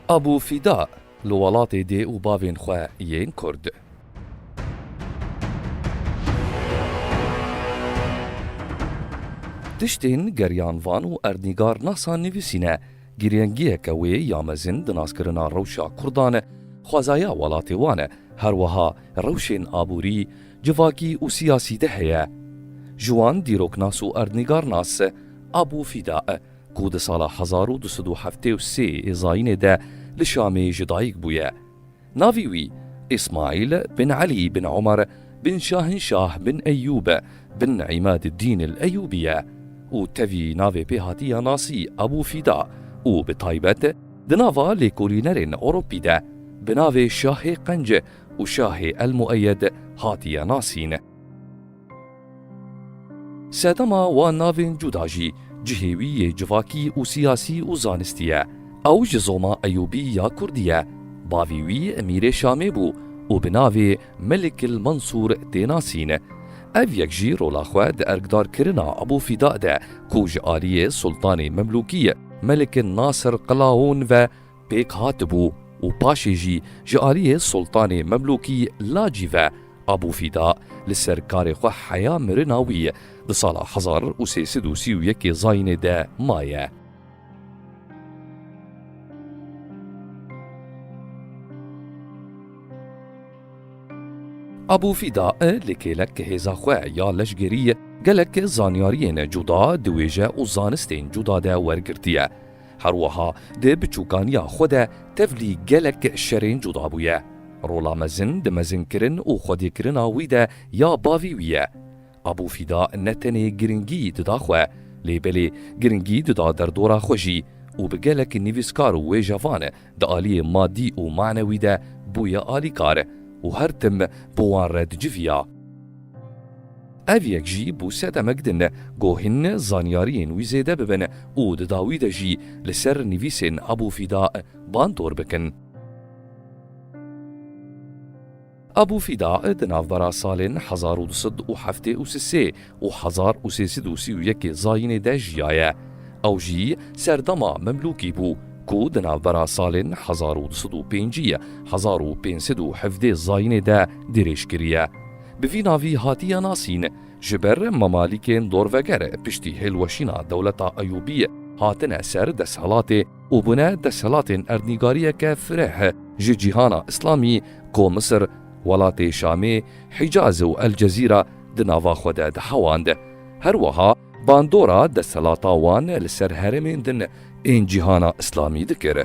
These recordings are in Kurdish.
Abu Fîda li welatê dê û bavên xwe yên Kurd. Tiştên geriyan van û erdnîgarnasa nivîsîne Girêngiyeke wê ya mezin di naskirina rewşa Kurdan e, xwezaya welatê wan e, her wiha rewşên aborî, civakî û siyasî de heye. Ji wan dîroknas û erdnîgarnas Abu Fîda e ku di sala hezar û du sed û heftê û sê yê zayînê de li Şamê ji dayik bûye. Navê wî Îsmaîl bin Elî bin Omer bin Şahinşah bin Eyyûb bin Îmâdiddîn el-Eyyûbî ye û tevî navê pê hatiye nasî Ebû Fîda û bi taybet di nava lêkolînerên Ewropî de bi navê Şahê Qenc û Şahê el-Mueyyed hatiye nasîn. Sedema wan navên cuda jî cihê wî yê civakî û siyasî û zanistî ye. Ew ji zoma Eyûbî ya Kurdî ye. Bavê wî Emîrê Şamê bû û bi navê Melik il Mansûr tê nasîn. Ev yek jî rola xwe di erkdarkirina Ebû Fîda de ku ji aliyê Sultanê Memlûkî Melik Nasir Qelaûn ve pêk hatibû û paşê jî ji aliyê Sultanê Memlûkî Lacî ve Abû Fîda li ser karê xwe heya mirina wî di sala hezar û sê sed û sî û yekê Zayînê de maye. Abû Fîda li kêlek hêza xwe ya leşgerî gelek zanyariyên cuda di wêje û zanistên cuda de wergirtiye. Her wiha di biçûkaniya xwe de tevlî gelek şerên cuda bûye. Rola mezin di mezinkirin û xwedîkirina wî de ya bavî wî ye. Abû Fîda ne tenê giringî dida xwe, lê belê giringî dida derdora xwe jî û bi gelek nivîskar û wêjevan Di aliyê madî û manewî de bûye alîkar û her tim bi wan re diciviya. Ev yek jî bû sedemek din ku hîn zanyariyên wî zêde bibin û di dawî de jî li ser nivîsên Ebû Fîda bandor bikin. Abû Fîda di navbera salên hezar û du sed û heftê û sê û hezar û sê sed û sî û yekê Zayînê de jiyaye. Ew jî serdema Memlûkî bû ku di navbera salên hezar û du sed û pêncî û hezar û pênc sed û hevdê Zayînê de dirêj kiriye. Bi vî navî hatiye nasîn. Ji ber Memalîkên dorveger piştî hêlweşîna dewleta Eyûbî hatine ser desthilatê. û bûne desthilatên erdnîgariyeke fireh ji cîhana îslamî ku Misir, welatê Şamê, Hîcaz û El Cezîra di nava xwe de dihewand. Her wiha bandora desthilata wan li ser herêmên din ên cîhana îslamî dikir.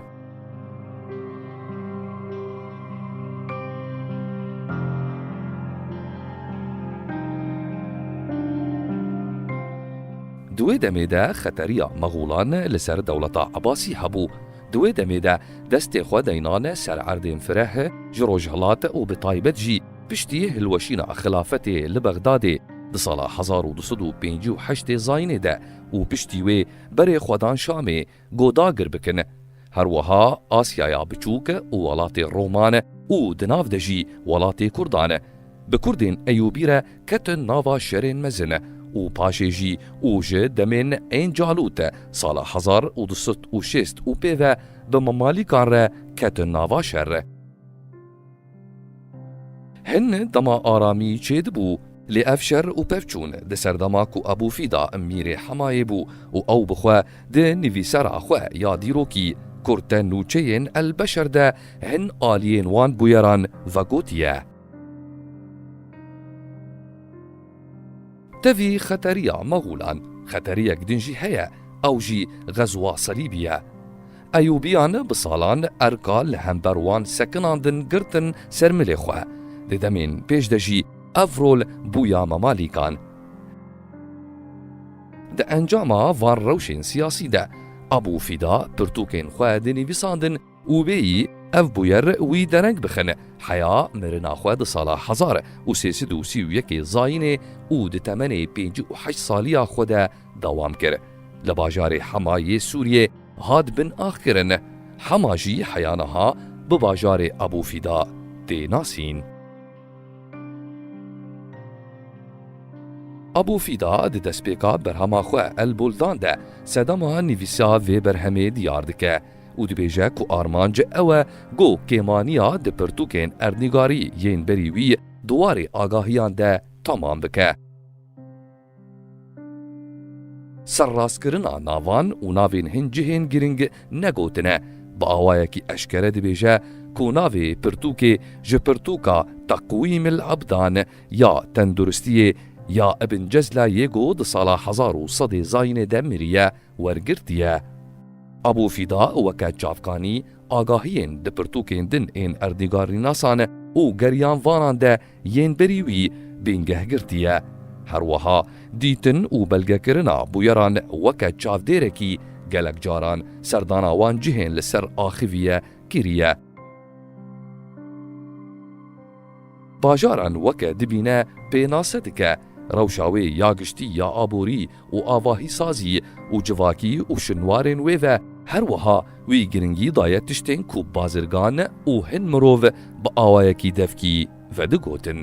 Di wê demê de xeteriya Mexûlan li ser dewleta Ebasî hebû. Di wê demê de destê xwe deynan ser erdên fireh ji rojhilat û bi taybet jî piştî hilweşîna xilafetê li Bexdadê di sala hezar û du sed û pêncî û heştê zayînê de û piştî wê berê xwe dan Şamê Ku dagir bikin. Her wiha Asyaya Biçûk û welatê Roman û di nav de jî welatê Kurdan bi Kurdên Eyûbî re ketin nava şerên mezin û paşê jî û ji demên ên Calût sala hezar û du sed û şêst û pê ve bi Memalîkan re ketin nava şer. Hin dema aramî çêdibû. Lê ev şer û pevçûn di ser dema ku Ebû Fîda mîrê Hemayê bû û ew bi xwe di nivîsera xwe ya dîrokî Kurte Nûçeyên El Beşer de hin aliyên wan bûyeran vegotiye. Tevî xeteriya Mexûlan xeteriyek din jî heye, ew jî Xezûa Selîbî ye. Eyûbîyan bi salan erka li hember wan sekinan din girtin ser milê xwe. Di demên pêş de jî ev rol bûya Memalîkan. Di encama van rewşên siyasî de Ebû Fîda pirtûkên xwe dinîvîsandin, Û bêyî ev bûyer wî dereng bixin heya mirina xwe di sala hezar û sê sed û sî û yekê Zayînê û di temenê pêncî û heşt saliya xwe de dewam kir. Li bajarê Hema yê Sûriyê hat bin ax kirin. Hema jî heya niha bi bajarê Ebû Fîda tê nasîn. Ebû Fîda di destpêka berhema xwe El Buldan de sedema nivîsa vê berhemê diyar dike. û dibêje ku armanc ew e ku kêmaniya di pirtûkên erdnîgarî yên berî wî di warê agahiyan de temam bike. Serrastkirina navan û navên hin cihên girîng ne gotine, bi awayekî eşkere dibêje ku navê pirtûkê ji pirtûka Teqwîmil Ebdan ya Tenduristiyê ya Ibn Cezla yê ku di sala hezar û sedê zayînê de mirî ye, wergirtiye. Abu Fida weke çavkanî agahiyên di pirtûkên din ên erdnîgarînasan û geriyanvanan de yên berî wî bingeh girtiye. Her wiha dîtin û belgekirina bûyeran weke çavdêrekî gelek caran serdana wan cihên li ser axivîye kiriye. Bajaran weke dibîne pênase dike rewşa wê ya giştî ya aborî û avahîsazî û civakî û şinwarên wê ve, her wiha wî giringî daye tiştên ku bazirgan û hin mirov bi awayekî devkî vedigotin.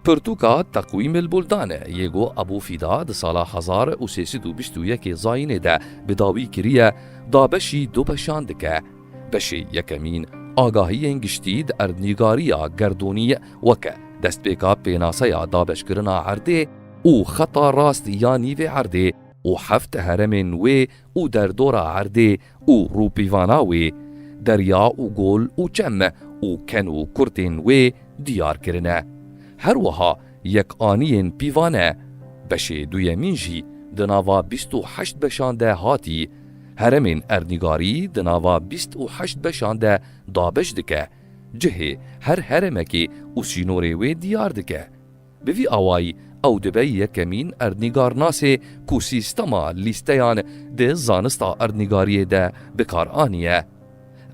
Pirtûka Teqwîmil Buldanê yê ku Ebû Fîda di sala hezar û sê sed û bîst û yekê Zayînê de bi dawî kiriye, dabeşî du beşan dike. Beşê yekemîn agahiyên giştî di erdnîgariya gerdûnî weke destpêka pênaseya dabeşkirina erdê û xeta rast ya nîvê erdê û heft heremên wê û derdora erdê û rûpîvana wê, derya û gol û çem û ken û kurtên wê diyar kirine. Her wiha yekaniyên pîvane, beşê duyemîn jî di nava bîst û heşt beşan de hatî, heremên erdnîgarî di nava bîst û heşt beşan de dabeş dike, cihê her heremekê û sînorê wê diyar dike. Bi vî awayî ew dibe yekemîn erdnîgarnasê ku sîstema lîsteyan di zanista erdnîgariyê de bi kar aniye.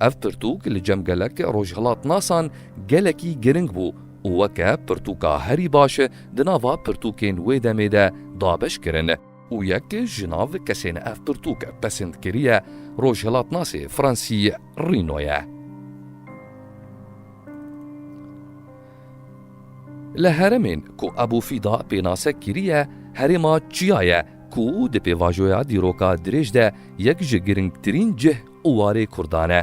Ev pirtûk li cem gelek rojhilatnasan gelekî giring bû û weke pirtûka herî baş di nava pirtûkên wê demê de dabeş kirin. Û yek ji nav kesên ev pirtûk pesind kiriye rojhilatnasê fransî Rîno ye. Li heremên ku Ebû Fîda pênase kiriye herêma çiya ye ku di pêvajoya dîroka dirêj de yek ji girîngtirîn cih û warê Kurdan e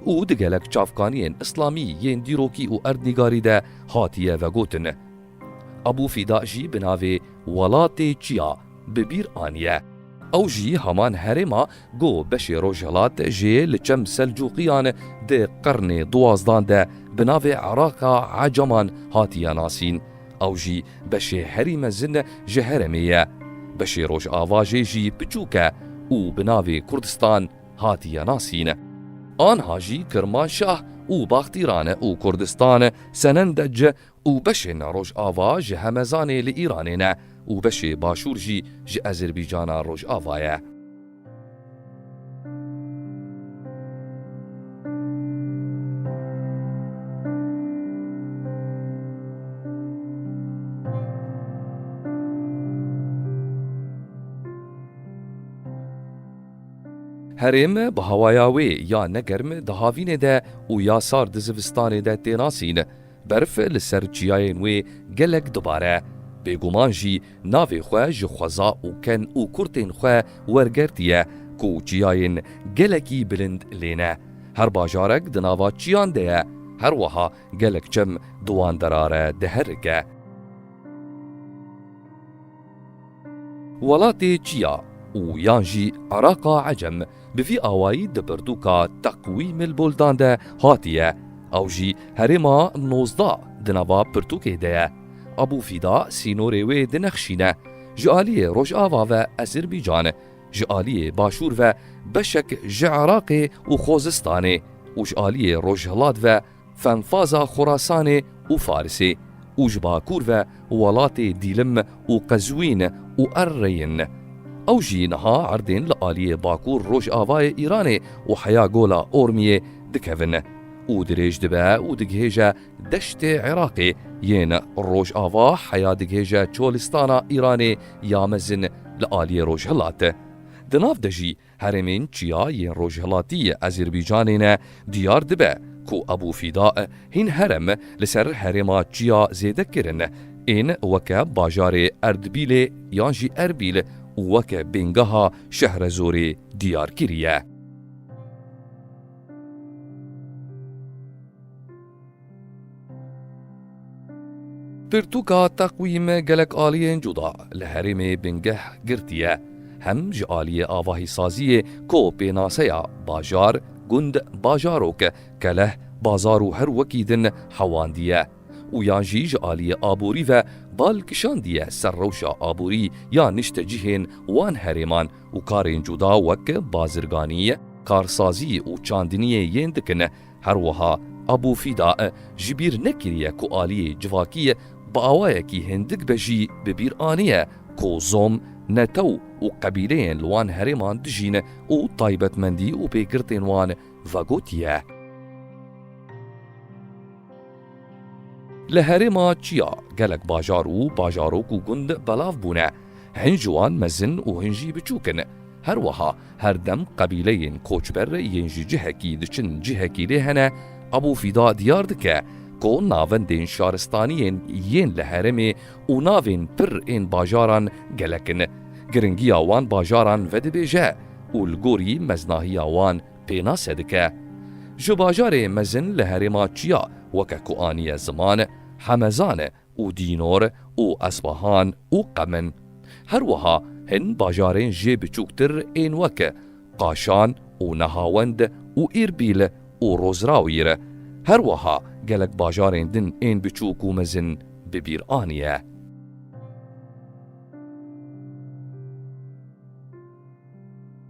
û di gelek çavkaniyên îslamî yên dîrokî û erdnîgarî de hatiye vegotin. Ebû Fîda jî bi navê welatê çiya bi bîr aniye. Ew jî heman herêma Ku beşê rojhelat jê li çem Selcuqiyan di qirnê duwazdan de bi navê Iraka Ecaman hatiye nasîn, ew jî beşê herî mezin ji heremê ye. Beşê rojava jê jî piçûk e û bi navê Kurdistan hatiye nasîn. Anha jî Kirmanşah û Baxtîran û Kurdistan senendec û beşên Rojava ji Hemezanê li Îranê ne û beşê Başûr jî ji Ezerbîcana Rojava ye. Herêm bi hawaya wê ya ne germ di havînê de û ya sar di zivistanê de tênasîn. Berf li ser çiyayên wê gelek dibare. Bêguman jî navê xwe ji xweza û ken û kurtên xwe wergertiye ku çiyayên gelekî bilind lê ne. Her bajarek di nava çiyan de ye. Her wiha gelek çem di wan dera re diherike. Welatê çi ya û yan jî Îraqa Ecem bi vî awayî di pirtûka Teqwîmil Buldan de hatiye, ew jî herêma nozdeh di nava pirtûkê de ye. Ebû Fîda sînorê wê di Nexşîn e, ji aliyê rojava ve Ezîrbîcan, ji aliyê başûr ve beşek ji Îraqê û Xozistanê û ji aliyê rojhilat ve Fenfaza Xurasanê û Farisê û ji bakur ve welatê Dîlim û Qezwîn û Erreyên. Ew jî niha erdên li aliyê bakur rojavayê Îranê û heya gola Ormiyê dikevin û dirêj dibe û digihêje deştê Iraqê yên rojava heya digihêje Çolistana Îranê ya mezin li aliyê rojhilat. Di nav de jî Herêmên Çiya yên rojhilatî yê Azerbaycanê ne diyar dibe ku Abu Fida hîn herem li ser herêma Çiya zêde kirin ên weke bajarê Erdbîlê yan jî Erbîl û weke bêngeha Şehrezorê diyar kiriye. Pirtûka teqwîm gelek aliyên cuda li herêmê bingeh girtiye, hem ji aliyê avahîsaziyê ku pênaseya bajar, gund, bajarok, keleh, bazar û her wekî din hewandiye û yan jî ji aliyê aborî ve bal kişandiye ser rewşa aborî ya niştecihên wan herêman û karên cuda wek bazirganî, karsazî û çandiniyê yên dikin. Her wiha Abu Fîda ji bîr nekiriye ku aliyê civakî bi awayekî hindik be jî bi bîr aniye ku zom, netew û qebîleyên li wan herêman dijîn û taybetmendî û pêgirtên wan vegotiye. Li herêma çiya gelek bajar û bajarok û gund belav bûne. Hin ji wan mezin û hin jî biçûk in. Her wiha her dem qebîleyên koçber yên ji cihekî diçin cihekî lê hene, Ebû Fîda diyar dike ku navendên şaristaniyên yên li herêmê û navên pir ên bajaran gelek in. Giringiya wan bajaran vedibêje û li gorî meznahiya wan, pênase dike. Ji bajarê mezin li herêma çiya weke ku aniye ziman, Hemezan û Dînor û Esbahan û Qem in. Her wiha hin bajarên jê biçûktir ên weke Qaşan û Nehawend û Îrbîl û Rozrawîr. Her wiha gelek bajarên din ên biçûk û mezin bi bîr aniye.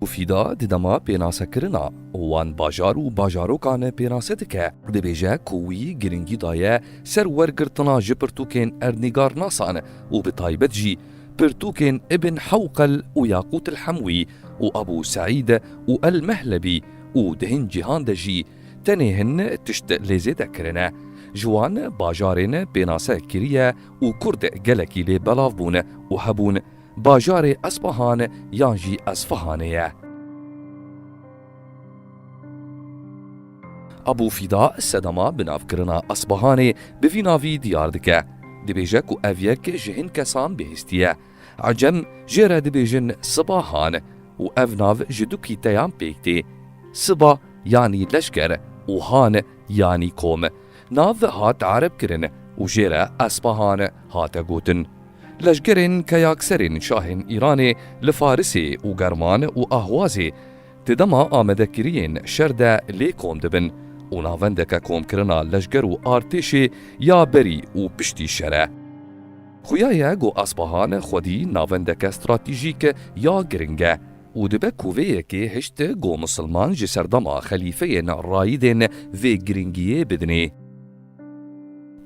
û Fîda di dema pênasekirina wan bajar û bajarokan e pênase dike, dibêje ku wî girîngî daye ser wergirtina ji pirtûkên erdnîgarnasan û bi taybet jî pirtûkên Ibn Hewqel û Yaqût El Hemwî û Ebû Seîd û El Mehlebî û di hin cîhan de jî tenê hin tişt lê zêde kirine ji wan bajarên pênase kiriye û kurd gelekî lê belav bûn û hebûn Bajarê Espahan yan jî Esfahanê ye. Abû Fîda sedema bi navkirina Espahanê bi vî navî diyar dike. Dibêje ku ev yek ji hin kesan bihîstî ye. Ecem jê re dibêjin Sibahan û ev nav ji du kîteyan pêk tê. Siba yanî leşker û han yanî kom. Nav hat tarifkirin û jê re Espahan hate gotin. Leşgerên keyakserên şahên Îranê li Farisê û German û Ahwazê di dema amadekiriyên şer de lê kom dibin û navendeke komkirina leşger û artêşê ya berî û piştî şer e. Xuya ye ku Espahan xwedî navendeke stratejîk ya giring e. û dibe ku vê yekê hişt ku misilman ji serdema xelîfeyên Rayidên vê girîngiyê bidinê.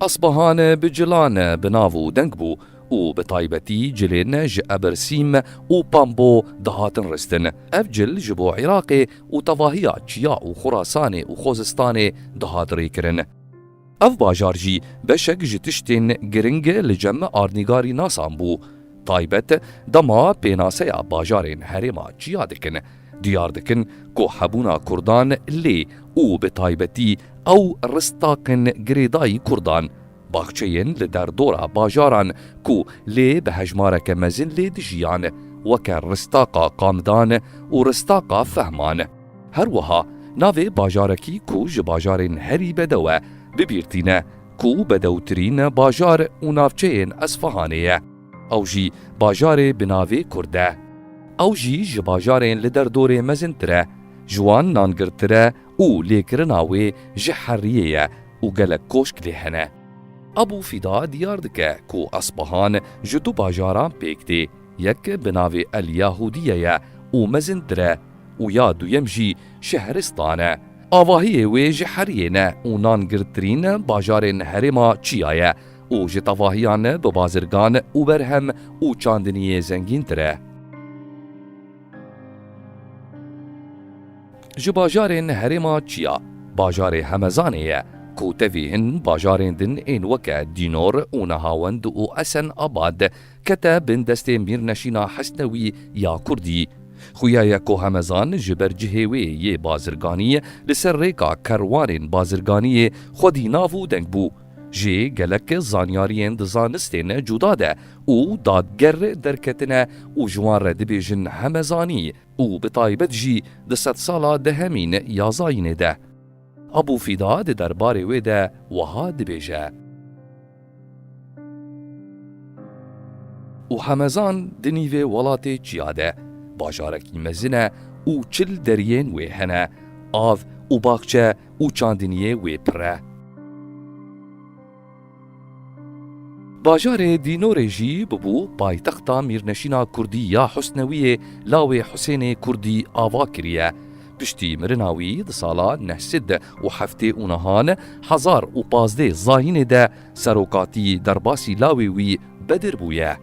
Asbahan bi cilan bi nav û deng bû û bi taybetî cilên ji Ebirsîm û Pambo dihatin ristin. Ev cil ji bo Iraqê û tevahiya Çiya û Xurasanê û Xozistanê dihat rêkirin. Ev bajar jî beşek ji tiştên giring li cem Arnîgarî Nasan bû. Taybet dema pênaseya bajarên herêma çiya dikin, diyar dikin ku hebûna Kurdan lê û bi taybetî ew ristaqên girêdayî Kurdan, baxçeyên li derdora bajaran ku lê bi hejmareke mezin lê dijiyan, weke ristaqa qamdan û ristaqa fehman. Her wiha navê bajarekî ku ji bajarên herî bedew e bibîr tîne ku bedewtirîn bajar û navçeyên Esfahanê ye. Ew jî bajarê bi navê Kurd e. Ew jî ji bajarên li derdorê mezintir e, ji wan nangirtir e û lêkirina wê ji heriyê ye û gelek koşk lê hene. Abu Fida diyar dike ku Esfahan ji du bajaran pêk tê, yek bi navê El Yahûdiye ye û mezintir e, Û ya duyem jî Şehristan e. Avahiyê wê ji heriyê ne û nan girdtirîn bajarên herêma çiya ye û ji tevahiyan bi bazirgan û berhem û çandiniyê zengîntir e. Ji bajarên herêma çiya, bajarê Hemezanê ye ku tevî hin bajarên din ên weke Dînor û Nehawend û Esen Abad, kete bin destê mîrneşîna Hesnewî ya Kurdî. Xuya ye ku Hemezan ji ber cihê wê yê bazirganî li ser rêka kerwarên bazirganîyê xwedî nav û deng bû jê gelek zanyarîyên di zanistên cuda de û dadger derketine û ji wan re dibêjin Hemezanî û bi taybet jî di sedsala dehemîn ya zayînê de. Abû Fîda di derbarê wê de wiha dibêje. û hemezan di nîvê welatê çiya de bajarekî mezin e û çil deriyên wê hene, av û baxçe û çandiniyê wê pir e. Bajarê Dînorê jî bûbû paytexta mîrneşîna Kurdî ya Husnewiyê lawê Husênê Kurdî ava kiriye. Piştî mirina wî di sala neh sed û heftê û nihan hezar û pazdê zayînê de serokatî derbasî lawê wî Bedir bûye.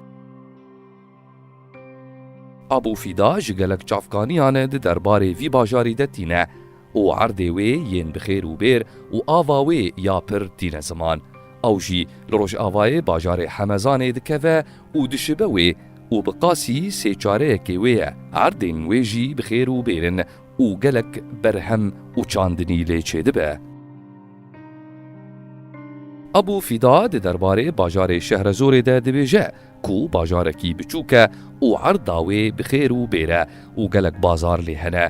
Abû Fîda ji gelek çavkaniyan di derbarê vî bajarî de tîne û erdê wê yên bi xêr û bêr û ava wê ya pir tîne ziman. Ew jî li rojavayê bajarê Hemezanê dikeve û dişibe wê û bi qasî sê çareyekê wê ye. Erdên wê jî bi xêr û bêr in û gelek berhem û çandinî lê çêdibe. Abû Fîda di derbarê bajarê Şehrezorê de dibêje ku bajarekî biçûk e û erda wê bi xêr û bêr e û gelek bazar lê hene.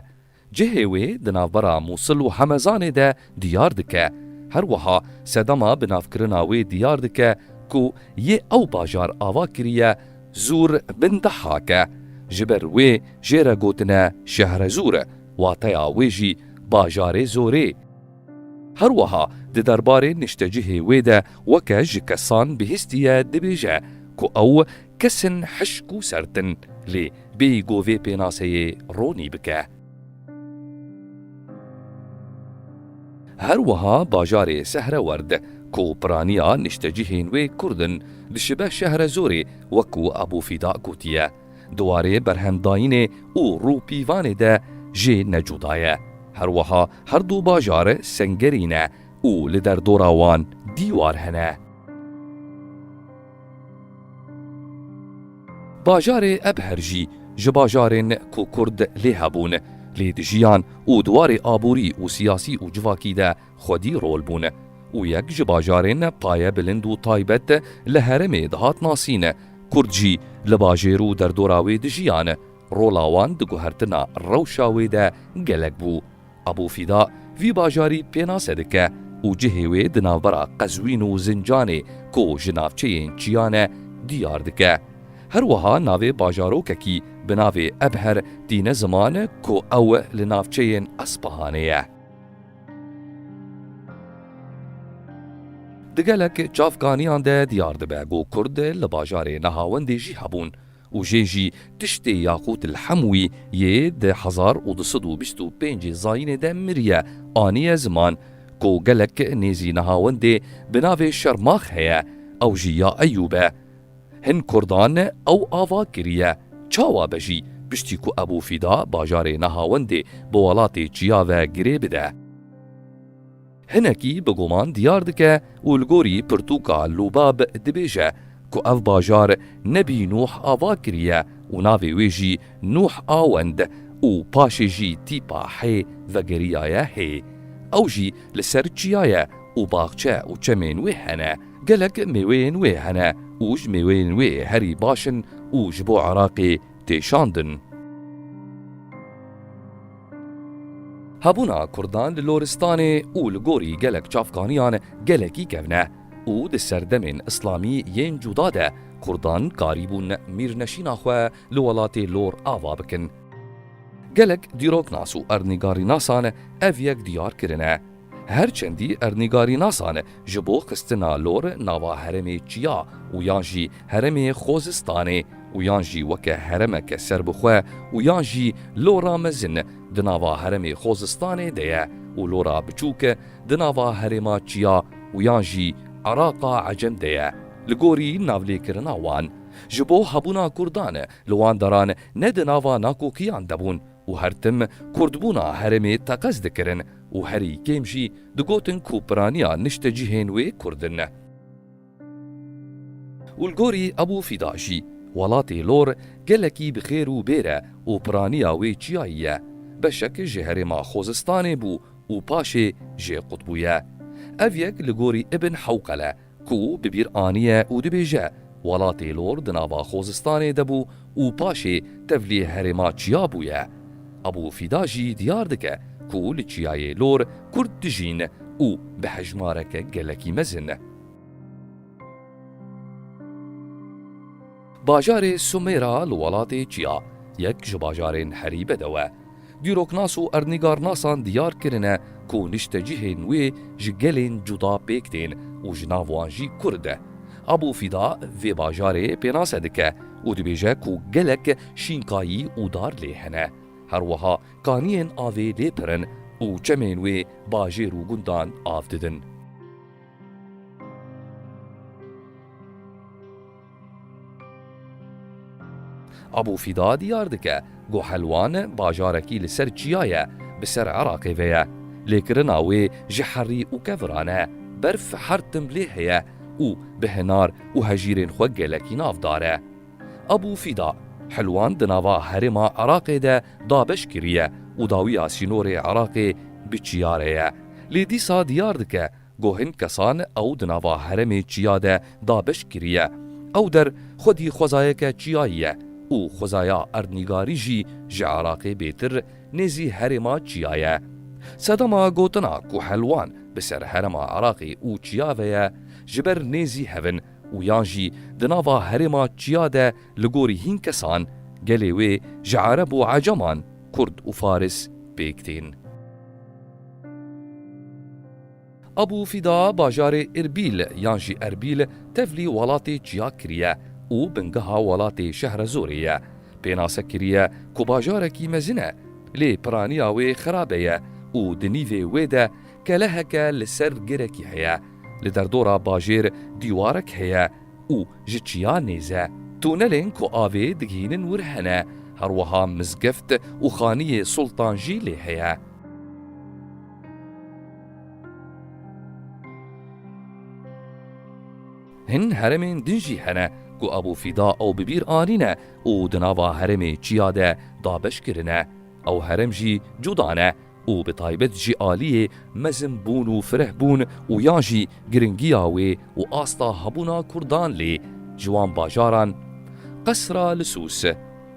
Cihê wê di navbera Mûsil û Hemezanê de Diyar dike. Her wiha sedema bi navkirina wê diyar dike ku yê ew bajar ava kiriye Zûr bin Dehhake. Ji ber wê jê re gotine Şehrezûr, wateya wê jî Bajarê Zorê. Her wiha di derbarê niştecihê wê de weke ji kesan bihîstiye dibêje ku ew kesin hişk û sert in lê bêyî govê pênaseyê ronî bike. Her wiha bajarê Sehrewerd ku piraniya niştecihên wê Kurd in, dişibe Şehrezorê wek ku Ebû Fîda gotiye, di warê berhemdayînê û rûpîvanê de jê ne cuda ye. Her wiha her du bajar sengerî ne û li derdora wan dîwar hene. Bajarê Ebher jî ji bajarên ku Kurd lê hebûn, lê di jiyan û di warê aborî û siyasî û civakî de xwedî rol bûn û yek ji bajarên paye bilind û taybet li herêmê dihat nasîn, Kurd jî li bajêr û derdora wê dijiyan, rola wan di guhertina rewşa wê de gelek bû. Ebû Fîda vî bajarî pênase dike û cihê wê di navbera Qezwîn û Zincanê ku ji navçeyên çiyan e diyar dike. Her wiha navê bajarokekî bi navê Ebher tîne ziman ku ew li navçeyên Espahanê ye. Di gelek çavkaniyan de diyar dibe ku Kurd li bajarê Nahawendê jî hebûn. û jê jî tiştê Yaqût el Hemwî yê di hezar û du sed û bîst û pêncê zayînê de miriye aniye ziman ku gelek nêzî Nehawendê bi navê Şermax heye ew jî ya Eyûb e. Hin kurdan ew ava kiriye çawa be jî piştî ku Ebû Fîda bajarê Nehawendê bi welatê çiya ve girê bide. Hinekî bi guman diyar dike û li gorî pirtûka Lûbab dibêje ku ev bajar nebî Nûh ava kiriye û navê wê jî Nûh a Wend û paşê jî tîpa hê vegeriyaye hê. Ew jî li ser çiya ye û baxçe û çemên wê hene. Gelek mêweyên wê hene û ji mêweyên wê herî baş in û ji bo Iraqê tê şandin. Hebûna Kurdan li Loristanê û li gorî gelek çavkaniyan gelekî kevn e û di serdemên Îslamî yên cuda de Kurdan karîbûn mîrneşîna xwe li welatê Lor ava bikin. Gelek dîroknas û erdnîgarînasan ev yek diyar kirine. Her çendî erdnîgarînasan ji bo xistina lor nava herêmê çiya û yan jî herêmê Xozistanê û yan jî weke herêmeke serbixwe û yan jî lora mezin di nava herêmê Xozistanê de ye û lora biçûk di nava herêma çiya û yan jî Îraqa Ecem de ye li gorî navlêkirina wan ji bo hebûna Kurdan li wan deran ne di nava nakokiyan de bûn û her tim kurdbûna herêmê teqez dikirin û herî kêm jî digotin ku piraniya niştecihên wê kurd in. Û li gorî Ebû Fîda jî, welatê Lor gelekî bi xêr û bêr e û piraniya wê çiyayî ye. Beşek ji herêma Xozistanê bû û paşê jê qut bûye. Ev yek li gorî Ibn Hewqel e. Ku bi bîr aniye û dibêje, Welatê Lor di nava Xozistanê de bû û paşê tevlî herêma çiya bûye. Abû Fîda jî diyar dike ku li çiyayê Lor Kurd dijîn û bi hejmareke gelekî mezin. Bajarê Sumêra li welatê Çiya yek ji bajarên herî bedew e. Dîroknas û erdnîgarnasan diyar kirine ku niştecihên wê ji gelên cuda pêk tên û ji nav wan jî Kurd e. Abû Fîda vê bajarê pênase dike û dibêje ku gelek şînkayî û dar lê hene. Her wiha kaniyên avê lê pir in û çemên wê bajêr û gundan av didin. Abu Fîda diyar dike ku Helwan bajarekî li ser çiya ye bi ser Iraqê ve ye. Lêkirina wê ji herî û keviran e. Berf her tim lê heye û bi hinar û hejîrên xwe gelekî navdar e. Abu Fîda, Helwan di nava herêma Iraqê de dabeş kiriye û dawiya sînorê Iraqê bi çiya re ye. Lê dîsa diyar dike Ku hin kesan ew di nava heremê çiya de dabeş kiriye. Ew der xwedî xwezayeke çiyayî ye û xwezaya erdnîgarî jî ji Iraqê bêtir nêzî herêma çiya ye. Sedama gotina ku helwan bi ser herema Iraqê û çiya ve ye ji ber nêzî hev in û yan jî di nava herêma çiya de li gorî hin kesan gelê wê ji Ereb û Eceman, Kurd û Faris pêk tên. Abu Fida bajarê Îrbîl yan jî Erbîl tevlî welatê çiyak kiriye û bingeha welatê Şehrezorê ye. Pênase kiriye ku bajarekî mezin e, lê piraniya wê xerabe ye û di nîvê wê de keleheke li ser girekî heye. Li derdora bajêr dîwarek heye û ji çiya nêz e. Tunelên ku avê digihînin wir hene, her wiha mizgift û xaniyê Sultan jî lê heye. Hin heremên din jî hene ku Ebû Fîda ew bi bîr anîne û di nava herêmê çiya de dabeş kirine. Ew herem jî cuda ne û bi taybet jî aliyê mezin bûn û fireh bûn û yan jî giringiya wê û asta hebûna Kurdan lê ji wan bajaran Qesra li Sûs,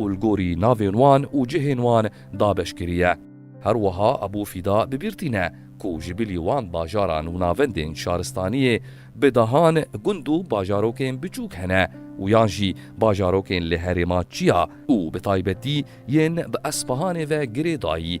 û li gorî navên wan û cihên wan dabeş kiriye. Her wiha Ebû Fîda bi bîr tîne ku ji bilî wan bajaran û navendên şaristaniyê bi dehan gund û bajarokên biçûk hene û yan jî bajarokên li herêma çiya û bi taybetî yên bi Espehanê ve girê dayî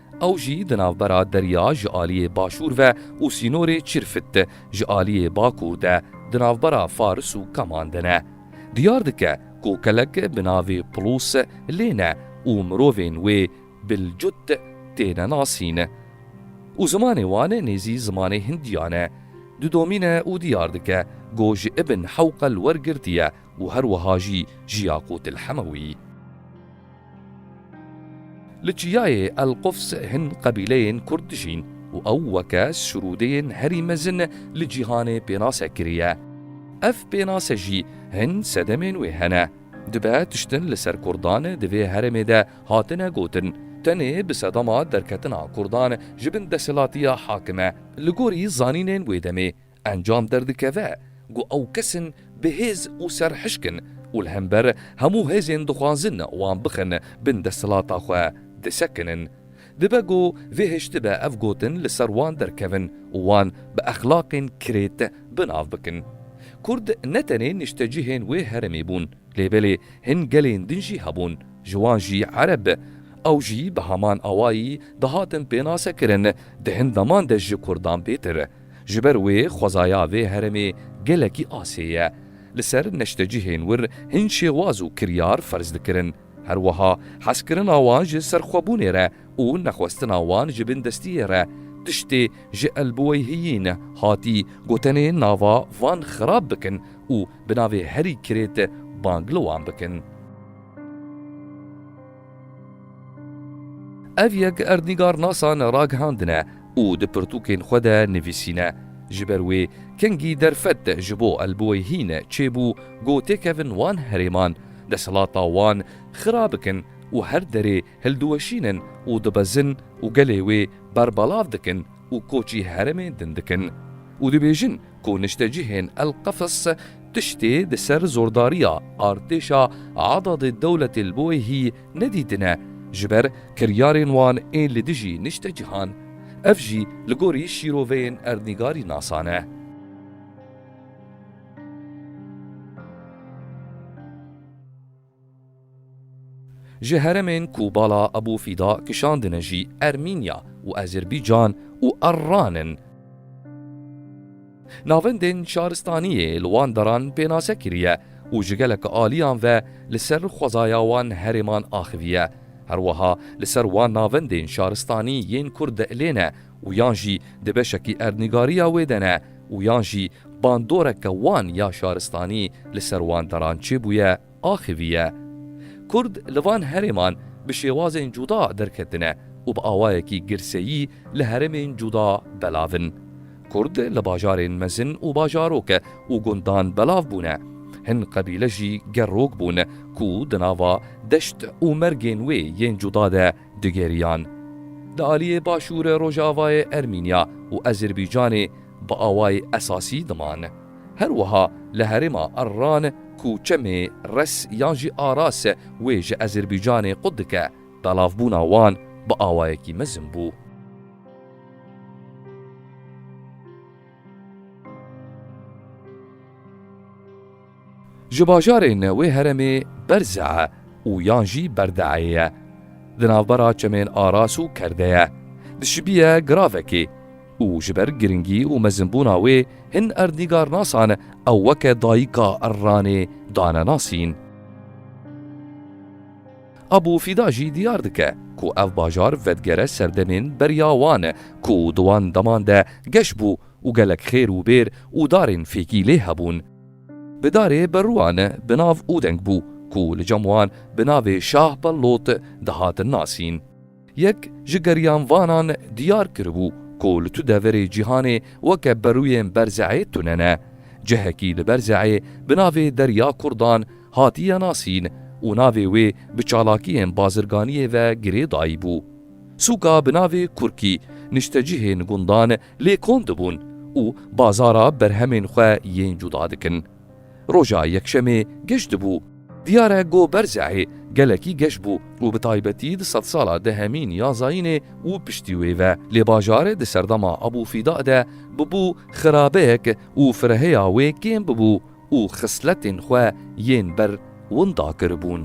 Ew jî di navbera derya ji aliyê başûr ve û sînorê Çirfit de ji aliyê bakûr de di navbera Faris û Kaman de ne. Diyar dike ku kelek bi navê Pulûs lê ne û mirovên wê Bilcût têne nasîn û zimanê wan nêzî zimanê Hindiyan e. Didomîne û diyar dike ku ji Ibn Hewqel wergirtiye û her wiha jî ji Yaqût el-Hemewî. Li çiyayê Elqufs hin qebîleyên Kurd dijîn û ew weke sirûdeyên herî mezin li cîhanê pênase kiriye. Ev pênase jî hin sedemên wê hene. Dibe tiştin li ser Kurdan di vê herêmê de hatine gotin, tenê bi sedema derketina Kurdan ji bin desthilatiya hakim e. Li gorî zanînên wê demê Encam derdikeve ku ew kesin bi hêz û serhişk in û li hember hemû hêzên dixwazin wan bixin bin desthilata xwe disekinin. Dibe ku vê hiştibe ev gotin li ser wan derkevin û wan bi exlaqên kirêt bi nav bikin. Kurd ne tenê niştecihên wê herêmê bûn lê belê hin gelên din jî hebûn ji wan jî ereb ew jî bi heman awayî dihatin pênasekirin di hin deman de ji kurdan bêtir Ji ber wê xwezaya vê heremê gelekî asê ye. Li ser neştecihên wir hin şêwaz û kiryar ferz dikirin. Her wiha hezkirina wan ji serxwebûnê re û nexwestina wan ji bindestiyê re tiştê ji elbiweyhiyîn hatî gotenê nava van xirab bikin û bi navê herî kirêt bang li wan bikin. Ev yek erdnîgarnasa ne ragihandine û di pirtûkên xwe de nivîsîne. Ji ber wê kengî derfet ji bo elbowê hîn çêbû ku têkevin wan herêman, desthilata wan xira bikin û her derê hildiweşînin û dibezin û gelê wê berbelav dikin û koçî herêmê din dikin û dibêjin ku niştecihên El Qefs tiştê di ser zordariya artêşa Adadê Dewletê li Boêhî nedîtine ji ber kiryarên wan ên li dijî niştecihan. Ev jî li gorî şîroveyên erdnîgarî nasan e. Ji heremên ku bala Ebû Fîda kişandine jî Ermînya û Azerbaycan û Arran in. Navendên şaristaniyê li wan deran pênase kiriye û ji gelek aliyan ve li ser xwezaya wan herêman axiviye. Her wiha li ser wan navendên şaristanî yên ku dielêne û yan jî di beşekî erdnîgariya wê de ne û yan jî bandorek ke wan ya şaristanî li ser wan deran çêbûye axivîye. Kurd li van herêman bi şêwazên cuda derketine û bi awayekî girseyî li heremên cuda belav in. Kurd li bajarên mezin û bajarok û gundan belav bûne. Hin qebîle jî gerrok bûn ku di nava deşt û mergên wê yên cuda de Digeriyan, di aliyê Başûre Rojavayê Ermînya û Ezîrbîcanê bi awayê esasî diman. Her wiha li herêma Arran ku çemê Res yan jî Aras wê ji Ezîrbîcanê qut dike, belavbûna wan bi awayekî mezin bû. Ji bajarên wê heremê Berze û yan jî Berdeeyê ye. Di navbera çemên Aras û Kerde ye. Dişibiye giravekê û ji ber giringî û mezinbûna wê hin erdnîgarnasan ew weke dayika erranê dane nasîn. Abu Fîda jî diyar dike ku ev bajar vedigere ser demên beriya wan ku di wan deman de geş bû û gelek xêr û bêr û darên fêkî lê hebûn. Bi darê berûan bi nav Ûdeng bû ku li cem wan bi navê Şah Bellot dihatin nasîn. Yek ji geriyanvanan diyar kiribû ku li tu deverê cîhanê weke berûyên Berze'ê tune ne. Cihekî li Berze'ê bi navê Derya Kurdan hatiye nasîn û navê wê bi çalakiyên bazirganiyê ve girê dayîbû. Sûka bi navê Kurkî niştecihên gundan lê kom dibûn û bazara berhemên xwe yên cuda dikin. Roja yekşemê geş dibû. Diyar e ku Berzehê gelekî geş bû û bi taybetî di sedsala dehemîn ya zayînê û piştî wê ve lê bajar di serdema Ebûfîda de bûbû xirabeyek û fireheya wê kêm bûbû û xisletên xwe yên ber winda kiribûn.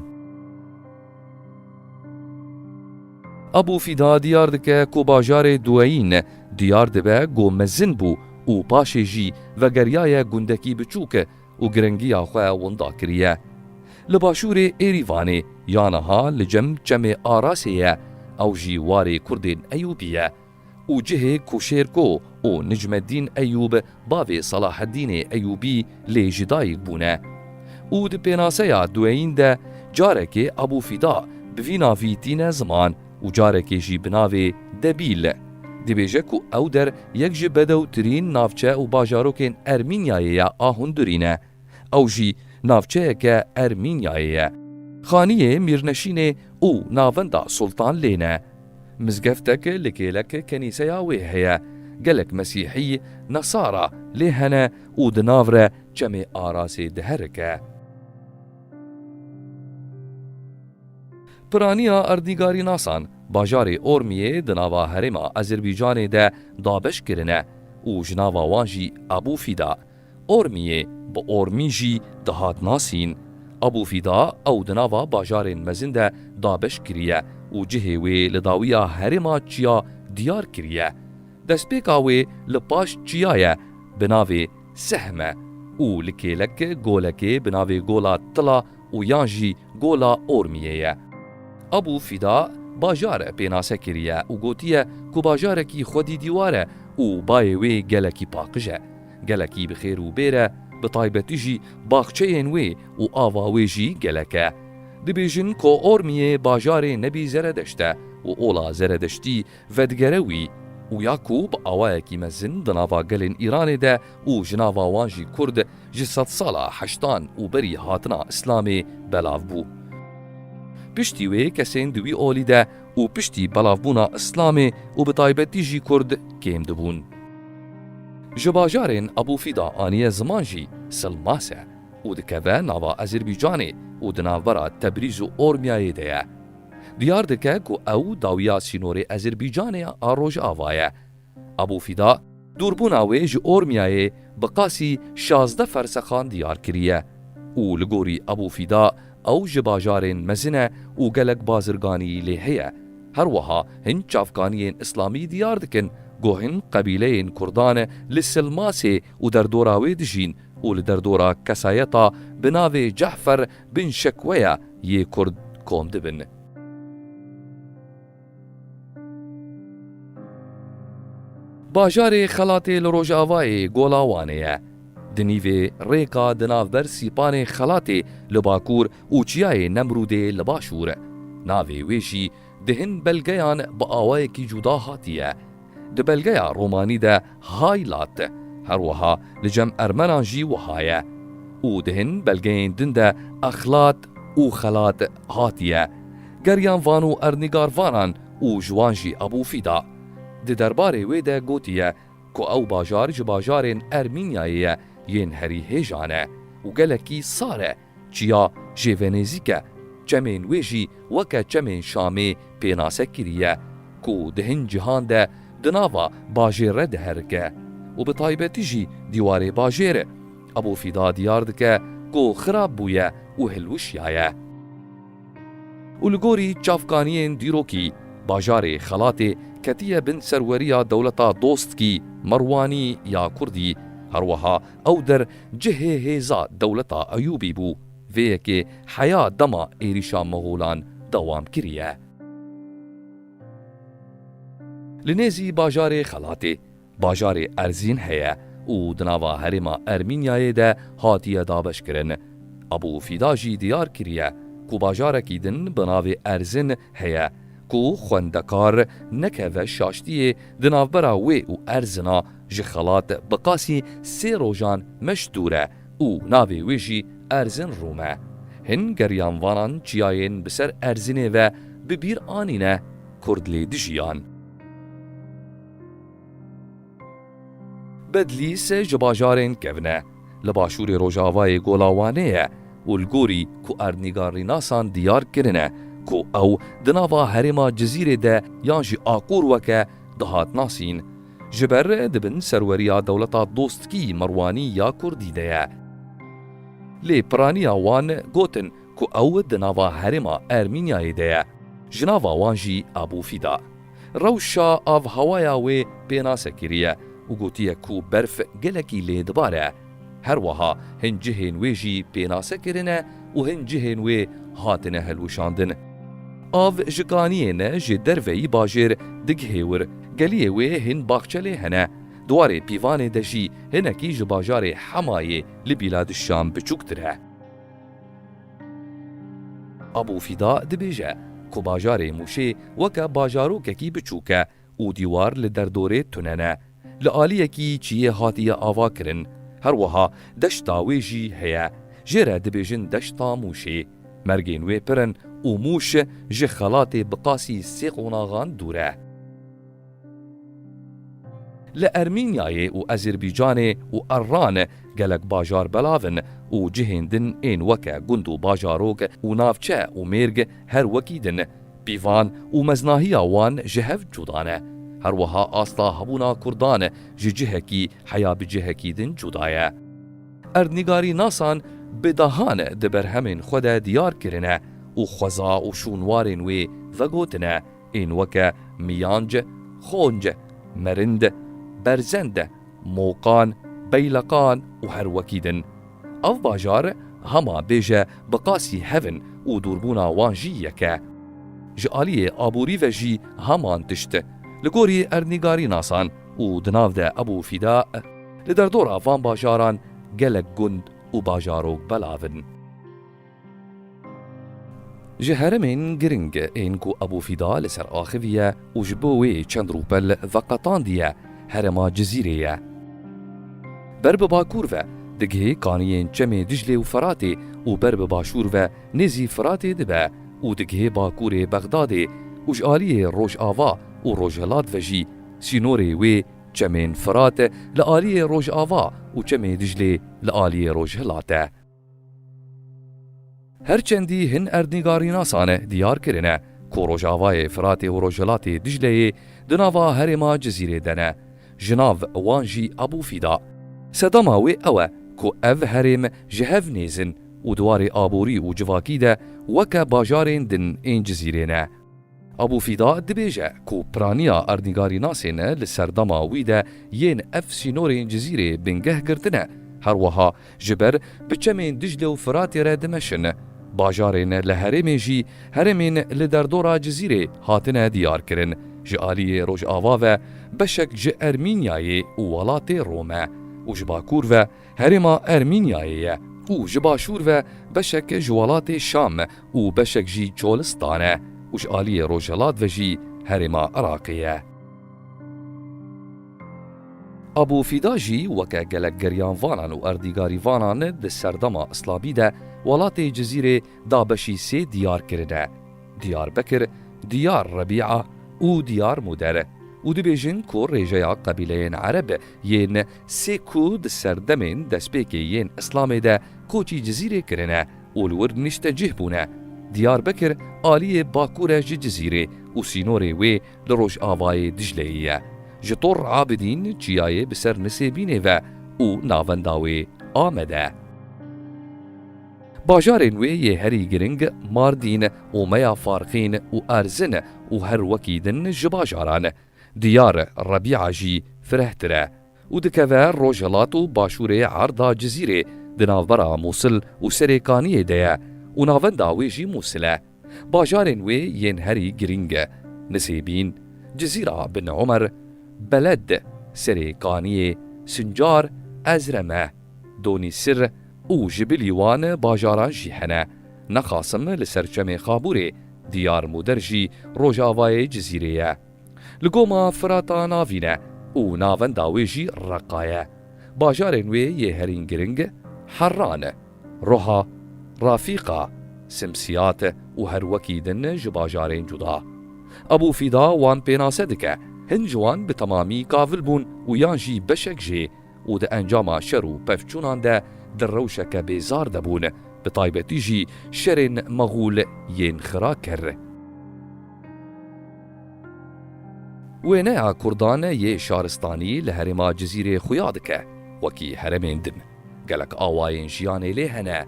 Abu Fîda diyar dike ku bajarê Dueyn diyar dibe ku mezin bû û paşê jî vegeriyaye gundekî biçûk û giringiya xwe winda kiriye. Li başûrê Êrîvanê ya niha li cem çemê Arasê ye, ew jî warê kurdên Eyûbî ye. û cihê ku Şêrko û Nicmeddîn Eyûb bavê Salaheddînê Eyûbî lê ji dayik bûne. Û di pênaseya dueyîn de carekê Ebû Fîda bi vî navî tîne ziman û carekê jî bi navê Debîl. Dibêje ku ew der yek ji bedewtirîn navçe û bajarokên Ermînyayê ya a hundurî ne. Ew jî navçeyeke Ermînyayê ye. Xaniyê Mîrneşînê û navenda Sultan lê ne. Mizgeftek li kêlek kenîseya wê heye. Gelek Mesîhî, Nesara, lê hene û di nav re Çemê Arasê diherike. Piraniya erdnîgarînasan bajarê Ormiyê di nava herêma Azerbaycanê de dabeş kirine û ji nava wan jî Ebû Fîda, Ormiyê bi Ormî jî dihat nasîn. Abû Fîda ew di nava bajarên mezin de dabeş kiriye û cihê wê li dawiya herêma Çiya diyar kiriye. Destpêka wê li paş çiya ye bi navê Sehm e û li kêlek golekê bi navê Gola Tila û yan jî Gola Ormiyê ye. Abû Fîda bajar e pênase kiriye û gotiye ku bajarekî xwedî dîwar e û bayê wê gelekî paqij e. gelekî bi xêr û bêr e, bi taybetî jî baxçeyên wê û ava wê jî gelek e. Dibêjin ko Ormiyê bajarê nebî zeredeşt e û ola zeredeştî vedigere wî û ya ku bi awayekî mezin di nava gelên Îranê de û ji nava wan jî kurd ji sedsala heştan û berî hatina îslamê belav bû. Piştî wê kesên di wî olî de û piştî belavbûna Îslamê û bi taybetî jî Kurd kêm dibûn. Ji bajarên Ebû Fîda aniye ziman jî Silmase û dikeve nava Ezîrbîcanê û di navbera Tebrîz û Ormyayê de ye. Diyar dike ku ew dawiya sînorê Ezîrbîcanê a Rojava ye. Abû Fîda, dûrbûna wê ji Ormiyayê bi qasî şazdeh fersexan diyar kiriye û li gorî Abû Fîda ew ji bajarên mezin e û gelek bazirganî lê heye. Her wiha hin çavkaniyên îslamî diyar dikin ku hin qebîleyên kurdan e li Silmasê û derdora wê dijîn û li derdora kesayeta bi navê Ce'fer bin Şekweya yê kurd kom dibin. Bajarê Xelatê li rojavayê Gola Wanê ye. Di nîvê rêka di navber Sîpanê Xelatê li bakûr û Çiyayê Nemrûdê li başûr. Navê wê jî di hin belgeyan bi awayekî cûda hatiye. Di belgeya romanî de hay lat her wiha li cem ermenan jî wiha ye û di hin belgeyên din de exlat û xelat hatiye geriyan van û erdnîgarvanan û ji wan jî Ebû Fîda di derbarê wê de gotiye ku ew bajar ji bajarên Ermînyayê ye yên herî hêjan e û gelekî sar e. Çiya jê venêzîk e, çemên wê jî weke çemên Şamê pênase kiriye ku di hin cîhan de di nava bajêr re diherike û bi taybetî jî dîwarê bajêre Ebû Fîda diyar dike ku xirab bûye û hilwişyaye. Û li gorî çavkaniyên dîrokî bajarê Xelatê ketiye bin serweriya dewleta Dostkî, Merwanî ya Kurdî, herweha Ew der cihê hêza dewleta Eyûbî bû. Vê yekê heya dema êrîşa Moxolan dewam kiriye. Li nêzî bajarê Xelatê, bajarê Erzîn heye û di nava herêma Ermînyayê de hatiye dabeşkirin. Abû Fîda jî diyar kiriye ku bajarekî din bi navê Erzin heye ku xwendekar nekeve şaştiyê di navbera wê û Erzina Ji xelat bi qasî sê rojan meşdûr e û navê wê jî Erzinrûm e. Hin geriyanvanan çiyayên bi ser Erzinê ve bi bîr anîne, Kurd lê dijiyan. Bedlîs ji bajarên kevne li başûrê rojavayê Gola Wanê ye û li gorî ku erdnîgarrînasan diyar kirine ku ew di nava herêma Cizîrê de yan jî Aqûr weke dihat nasîn, ji ber di bin serweriya dewleta dostkî Merwanî ya Kurdî de ye. Lê piraniya wan gotin ku ew di nava herêma Ermînyayê de ye, ji nava wan jî Abu Fîda. Rewşa avhewaya wê pênase kiriye û gotiye ku berf gelekî lê dibare. Her wiha hin cihên wê jî pênase kirine û hin cihên wê hatine hilwişandin. Av ji kaniyê ne ji derveyî bajêr digihê wir. Geliyê wê hin baxçe lê hene. Diwarê pîvanê de jî hinekî ji bajarê Hemayê li bîla dişan biçûktir e. Abû Fîda dibêje ku bajarê Mûşê weke bajarokekî biçûk e. û dîwar li derdorê tune ne. Li aliyekî çiyê hatiye ava kirin. Her wiha deşta wê jî heye. Jê re dibêjin deşta Mûşê. Mergên wê pir in û Mûş ji xelatê bi qasî sê qonaxan dûr e. Li Ermînyayê û Ezîrbîcanê û Erran gelek bajar belav in û cihên din ên weke gund û bajarok û navçe û mêrg her wekî din. Pîvan û meznahiya wan ji hev cuda ne. Her wiha asta hebûna Kurdan ji cihekî heya bi cihekî din cuda ye. Erdnîgarînasan bi dehan di berhemên xwe de diyar kirine û xweza û şûnwarên wê vegotine ên weke miyanc, xonc, merind, berzend, mokan, beyleqan û her wekî din. Ev bajar hema bêje bi qasî hev in û dûrbûna wan jî yek e. Ji aliyê aborî ve jî heman tişt li gorî erdnîgarî nasan û di nav de Ebû Fîda li derdora van bajaran gelek gund û bajarok belav in. Ji heremên giring ên ku Ebû Fîda li ser axiviye û ji bo wê çend rûpel veqetandiye herema Cizîrê ye. Ber bi bakûr ve digihê kaniyên çemê Diclê û Feratê û ber bi başûr ve nêzî Feratê dibe û digihê bakûrê Bexdadê û ji aliyê rojava û rojhilat ve jî sînorê wê çemên Ferat li aliyê rojava û çemê Diclê li aliyê rojhilat e. Her çendî hin erdnîgarînasane diyar kirine ku rojavayê Firatê û rojhilatê Dicleyê di nava herêma Cizîrê de ne, ji nav wan jî Ebû Fîda. Sedema wê ew e ku ev herêm ji hev nêzin û di warê aborî û civakî de weke bajarên din ên Cizîrê ne. Abu Fîda dibêje ku piraniya erdnîgarînasê ne li serdema wî de yên ev sînorên Cizîrê bingeh girtine, her wiha ji ber biçemên Diclê û Firatê re dimeşin. Bajarên li herêmê jî herêmên li derdora Cizîrê hatine diyarkirin, ji aliyê rojava ve beşek ji Ermînyayê û welatê Rome û ji bakur ve, Herêma Ermînyayê ye û ji başûr ve beşek ji welatê Şam û beşek jî Çolistan e û ji aliyê rojhelat ve jî Herêma Iraqê ye. Abû Fîda jî weke gelek geriyanvanan û erdîgarîvanan di serdema Islabî de welatê Cizîrê da beşî sê diyar kirine, Diyarbekir, Diyar Rebîa û Diyar Mûder û dibêjin ku rêjeya qebîleyên Ereb yên Sê ku di serdemên destpêkê yên Îslamê de kotî Cizîrê kirine û li wir nîştecîh bûne. Diyarbekir aliyê bakur e ji Cizîrê û sînorê wê li rojavayê Dicleyê ye. Ji Tor Abidîn çiyayê bi ser Nisêbînê ve û navenda wê Amed e. Bajarên wê yê herî giring Mardîn, Omeya Farxîn û Erzin û her wekî din ji bajaran Diyar e Rebîa jî firehtir e û dikeve rojhilat û başûrê erda Cizîrê di navbera Mûsil û Serêkaniyê de ye û navenda wê jî Mûsil e. Bajarên wê yên herî girîng e Nisêbîn, Cizîra Bin Umer, Beled, Serêkaniyê, Sincar, Ezreme, Donîsir û ji bilî wan bajaran jî hene. Nexasim li ser çemê Xabûrê Diyar Moder jî rojavayê Cizîrê ye. Li goma Firata navîn e û navenda wê jî Reqa ye. Bajarên wê yê herîn giring Herran, Roha, Rafîqa, Simsiyat û her wekî din ji bajarên cuda. Ebû Fîda wan pênase dike, hin ji wan bi temamî kavil bûn û yan jî beşek jê, û di encama şer û pevçûnan de di rewşeke bêzar de bûn, bi taybetî jî şerên Maxûl yên xira kir. Wêneya kurdan yê şaristanî li herêma Cizîrê xuya dike, wekî heremên din, gelek awayên jiyanê lê hene,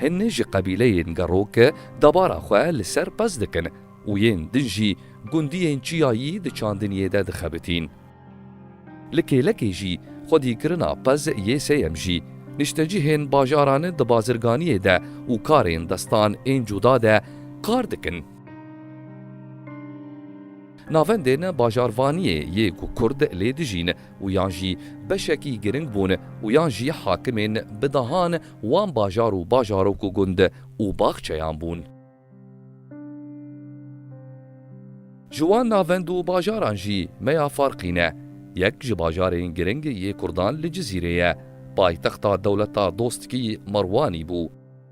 hin ji qebîleyên gerok dabara xwe li ser pez dikin û yên din jî gundiyên çiyayî di çandiniyê de dixebitîn. Li kêlekê jî xwedî kirina pez yê sêyem jî. Niştecihên bajaran di bazirganiyê de û karên destan ên cuda de kar dikin. Navendên bajarvaniyê yê ku kurd lê dijîn û yan jî beşekî giring bûn û yan jî hakimên bi dahan wan bajar û bajarok û gund û baxçeyan bûn. Ji wan navend û bajaran jî meya farqî ne. Yek ji bajarên giring yê kurdan li Cizîrê ye. Paytexta dewleta dostkî Merwanî bû.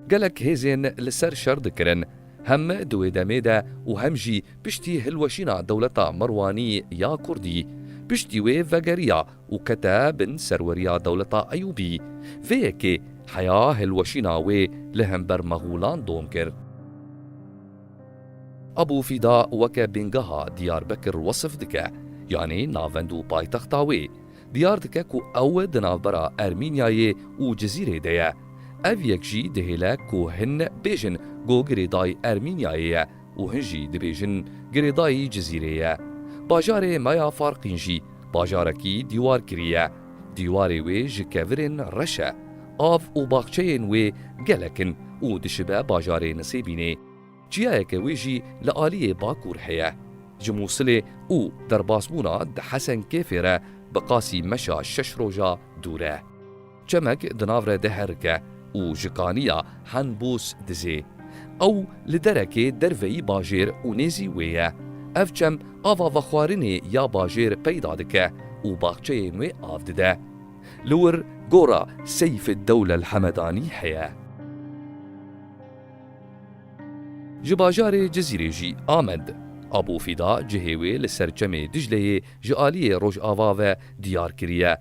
Gelek hêzên li ser şer dikirin. Hem di wê demê de û hem jî piştî hilweşîna dewleta Merwanî ya kurdî. Piştî wê vegeriya û kete bin serweriya dewleta Eyûbî, vê yekê heya hilweşîna wê li hember Mexûlan dom kir. Ebû Fîda weke bîngeha Diyarbekir wesf dike, yanî navend û paytexta wê. Diyar dike ku ew di navbera Ermînyayê û Cizîrê de ye. Ev yek jî dihêle ku hin bêjin Gogirê dayî Ermînyayê ye, û hin jî dibêjin girêdayî Cizîrê ye. Bajarê me ya Farqîn jî bajarekî dîwarkirî ye. Dîwarê wê ji kevirên reş e. Av û baxçeyên wê gelek in û dişibe bajarê Nisêbînê. Çiyayeke wê jî li aliyê bakûr heye. Ji Mûsilê û derbasbûna di Hesen Kêfê re bi qasî meşa şeş roja dûr e. Çemek di nav re diherike û ji kaniya Henbûs dizê. Ew li derekê derveyî bajêr û nêzî wê ye. Ev çem ava vexwarinê ya bajêr peyda dike û baxçeyên wê av dide. Li wir gora Seyfeddewle El Hemedanî heye. Ji bajarê Cizîrê jî Amed Abûfîda cihê wê li ser çemê Dicleyê ji aliyê rojava ve diyar kiriye.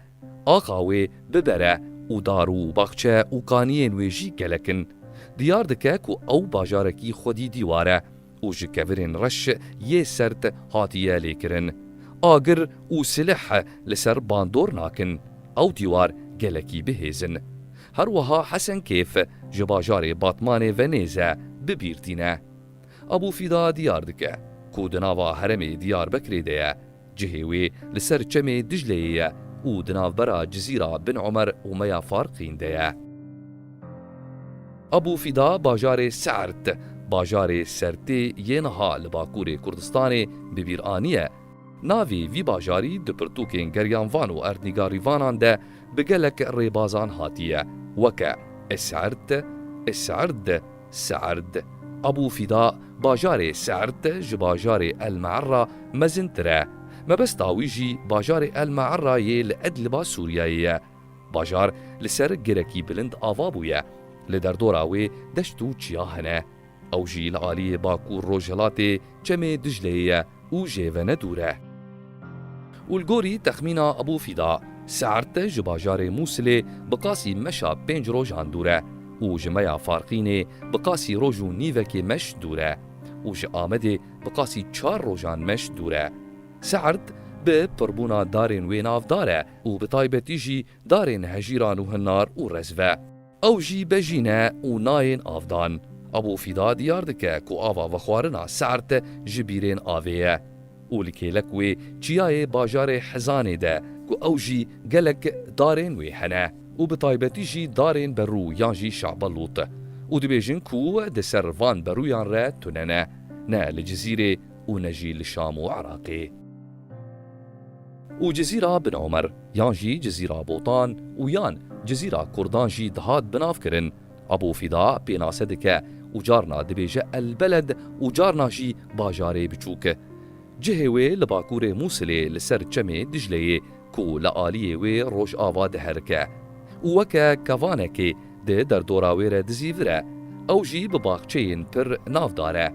Axa wê bibere û dar û baxçe û kaniyên wê jî gelek in. Diyar dike ku ew bajarekî xwedî dîwar e û ji kevirên reş yê sert hatiye lêkirin. Agir û silih li ser bandor nakin. Ew dîwar gelekî bihêz in. Her wiha Hesenkêf ji bajarê Batmanê ve nêz e, bi bîr tîne. Ebû Fîda diyar dike ku di nava heremê Diyarbekirê de ye. Cihê wê li ser çemê Dicleyê ye û di navbera Cizîra Bin Omer û Meya Farqîn de ye. Abû Fîda bajarê Sert, bajarê Sertê yê niha li Bakurê Kurdistanê bi bîr aniye. Navê vî bajarî di pirtûkên Geryan Van û Erdnîga Rîvanan de bi gelek rêbazan hatiye weke Esert, Eserd, Serd, Ebû Fîda, Bajarê Serd ji bajarê El Me'erra mezintir e. Mebesta wî jî bajarê El Me'erra yê li Edliba Sûriyeyê ye. Bajar li ser girekî bilind ava bûye. Li derdora wê deşt û çiya hene. Ew jî li aliyê Bakûr-Rojhilatê, Çemê Dicleyê ye û jê ve ne dûr e. Û li gorî texmîna Ebû Fîda, Se'rt de ji bajarê Mûsilê bi qasî meşa pênc rojan dûr e û ji meya Farqînê bi qasî roj û nîvekê meş dûr e û ji Amedê bi qasî çar rojan meş dûr e. Se'rt bi pirbûna darên wê nav dar e û bi taybetî jî darên hejîran û hinnar û rezve. Ew jî bejî ne û nayên avdan. Ebû Fîda diyar dike ku ava vexwarina Se'rt ji bîrên avê ye û li kêlek wê çiyayê bajarê Hizanê de ku ew jî gelek darên wê hene û bi taybetî jî darên berû yan jî Şa'ba Lût û dibêjin ku di ser van berûyan re tune ne, ne li Cizîrê û ne jî li Şam û Iraqê. û Cizîra Bin Omer yan jî Cizîra Botan û yan Cizîra Kurdan jî dihat binavkirin. Ebû Fîda pênase dike û carna dibêje El Beled û carna jî bajarê biçûk. Cihê wê li bakurê Mûsilê li ser çemê Dicleyê ku li aliyê wê rojava diherike û weke kevanekê di derdora wê re dizîvire, ew jî bi baxçeyên pir navdar e.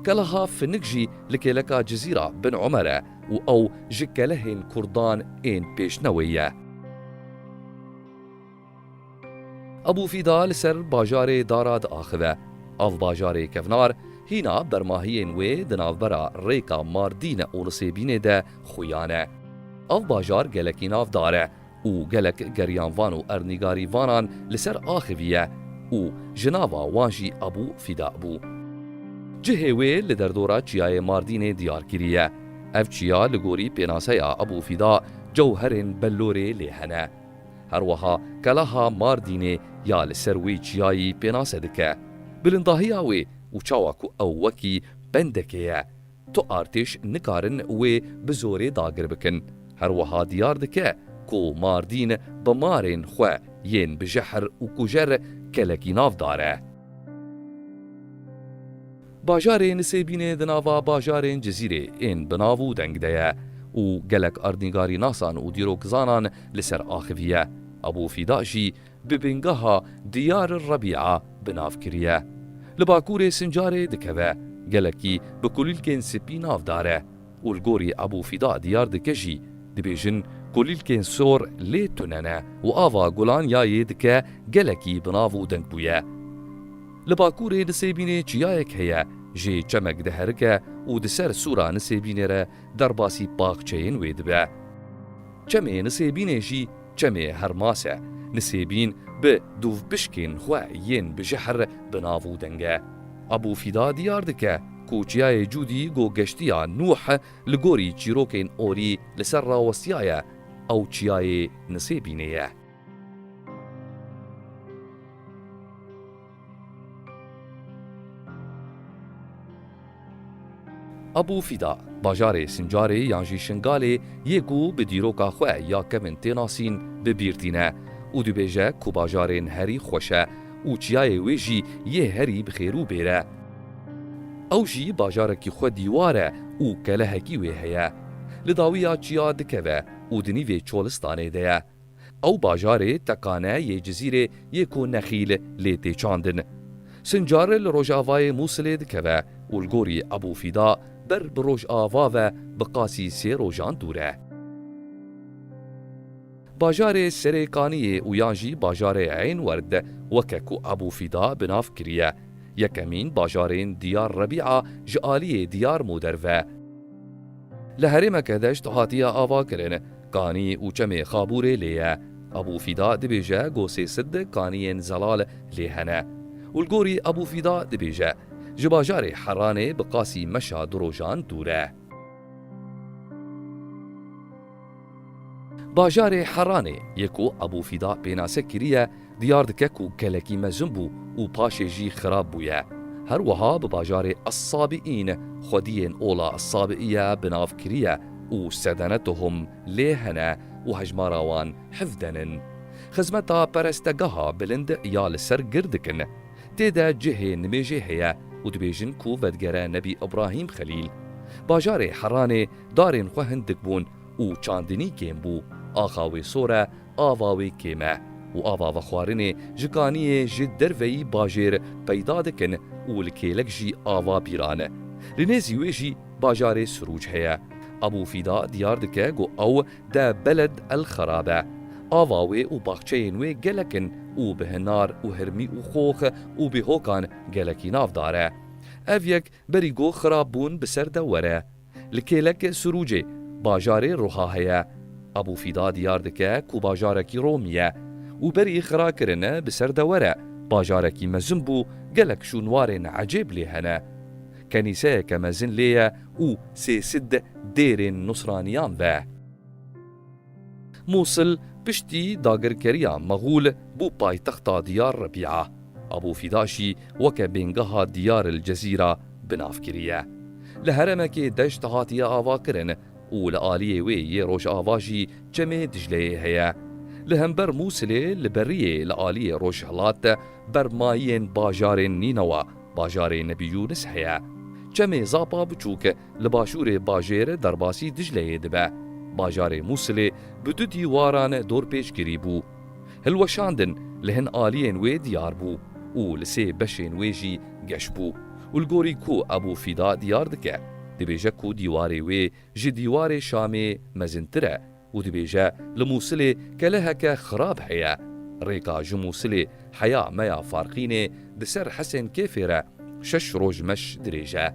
Keleha Finik jî li kêleka Cizîra bin Omer e û ew ji kelehên kurdan ên pêşnewê ye. Ebû Fîda li ser bajarê Dara diaxive. Av bajarê kevnar, hîna bermahiyên wê di navbera rêka Mardîne û Nisêbînê de xuyan e. Ev bajar gelekî navdar e û gelek geryanvan û ernîgarîvanan li ser axiviye û ji nava wan jî Ebû Fîda bû. Cihê wê li derdora Çiyayê Mardînê diyar kiriye. Ev çiya li gorî pênaseya Ebû Fîda cewherên bellorê lê hene. Her wiha Keleha Mardînê ya li ser wê çiyayî pênase dike. Bilindahiya wê û çawa ku ew wekî bendekê ye, Tu artêş nikarin wê bi zorê dagir bikin. Her wiha diyar dike ku Mardîn bi marên xwe yên bi jehr û kujer kelekî nav dare. Bajarê Nisêbînê di nava bajarên Cizîrê ên bi nav û deng de ye û gelek erdnîgarînasan û dîrokzanan li ser axivî ye. Abû Fîda jî bi bingeha Diyar Rebîa bi nav kiriye. Li Bakurê Sincarê dikeve, gelekî bi kulîlkên spî nav dare û li gorî Ebû Fîda Diyar dike jî dibêjin kulîlkên sor lê tune ne û ava gulan ya yê dike gelekî bi nav û deng bûye. Li Bakurê Nisêbînê çiyayek heye jê çemek diherike û di ser sûra Nisêbînê re derbasî paxçeyên wê dibe. Çemê Nisêbînê jî Çemê Hermase, Nisêbîn bi dûvpişkên xwe yên bi jehr bi nav û denge. Ebû Fîda diyar dike ku Çiyayê Cûdî ku Geştiya Nûh li gorî çîrokên orî li ser rawestiyaye, ew Çiyayê Nisêbînê ye. Abu Fida, bajarê Sincarê yan jî Şingalê yê ku bi dîroka xwe ya kevn tê nasîn bi bîr tîne û dibêje ku bajarên herî xweş e û çiyayê wê jî yê herî bi xêr û bêr e. Ew jî bajarekî xwe dîwar e û kelehekî wê heye. Li dawiya çiya dikeve û di nîvê çolistanê de ye. Ew bajarê tekane yê Cizîrê yê ku Nexîl lê tê çandin. Sincar li rojavayê Mûsilê dikeve û li gorî Ebû Fîda ber bi rojava ve bi qasî sê rojan dûr e. Bajarê Serê Kaniyê û yan jî bajarê Eyn Werd weke ku Ebû Fîda bi nav kiriye, yekemîn bajarên Diyar Rebî'a ji aliyê Diyar Moder ve. Li herêmeke deşt hatiye avakirin, kanî û çemê Xabûrê lê ye. Ebû Fîda dibêje go sê sid kaniyên zelal lê hene. Û li gorî Ebû Fîda dibêje, Ji bajarê Heranê bi qasî meşa du rojan dûr e. Bajarê Heranê yê ku Ebû Fîda pênase kiriye diyar dike ku gelekî mezin bû û paşê jî xirab bûye. Her wiha bi bajarê Es-Sabiîn xwediyên ola Es-Sabiîye bi nav kiriye û sedenetuhum lê hene û hejmara wan hevden in. Xizmeta perestegeha bilind ya li ser gir dikin. Tê de cihê nimêjê heye û dibêjin ku vedigere Nebî Îbrahîm Xelîl. Bajarê Heranê Darên xwe hindik bûn û çandinî kêm bû. Axa wê sor e, ava wê kêm e û ava vexwarinê ji kaniyê ji derveyî bajêr peyda dikin û li kêlek jî ava bîran e. Li nêzî wê jî bajarê Sirûc heye. Ebû Fîda diyar dike ku ew de Beled El Xerab e. Ava wê û baxçeyên wê gelek in û bi hinar û hirmî û xox û bêhokan gelekî navdar e. Ev yek Berî got xirab bûn bi ser de were. Li kêlek Sirûcê, bajarê Ruha heye. Abû Fîda diyar dike ku bajarekî Romî ye û berî xira kirine bi ser de were, bajarekî mezin bû, gelek şûnwarên ecêb lê hene. Kenîseyeke mezin lê ye û sê sid dêrên nusraniyan ve. Mûsil piştî dagirkeriya Mexûl bû paytexta Diyar Rebîa. Abû Fîda jî weke bêngeha Diyar el Cezîra bi nav kiriye. Li heremekê deşt hatiye avakirin û li aliyê wê yê rojava jî çemê Dicleyê heye. Li hember Mûsilê li beriyê li aliyê rojhilat de bermayiyên bajarên Nînewa, bajarê Nebî Yûnis heye. Çemê Zapa Biçûk Li başûrê bajêr derbasî Dicleyê dibe. Bajarê Mûsilê bi du dîwaran dorpêçkirî bû. Hilweşandin li hin aliyên wê diyar bû û li sê beşên wê jî geş bû û li gorî ku Ebû Fîda diyar dike, dibêje ku dîwarê wê ji dîwarê Şamê mezintir e. û dibêje, Li Mûsilê keleheke xirab heye. Rêka ji Mûsilê heya me ya Farqînê di ser Hesên Kêfê re şeş roj meş dirêj e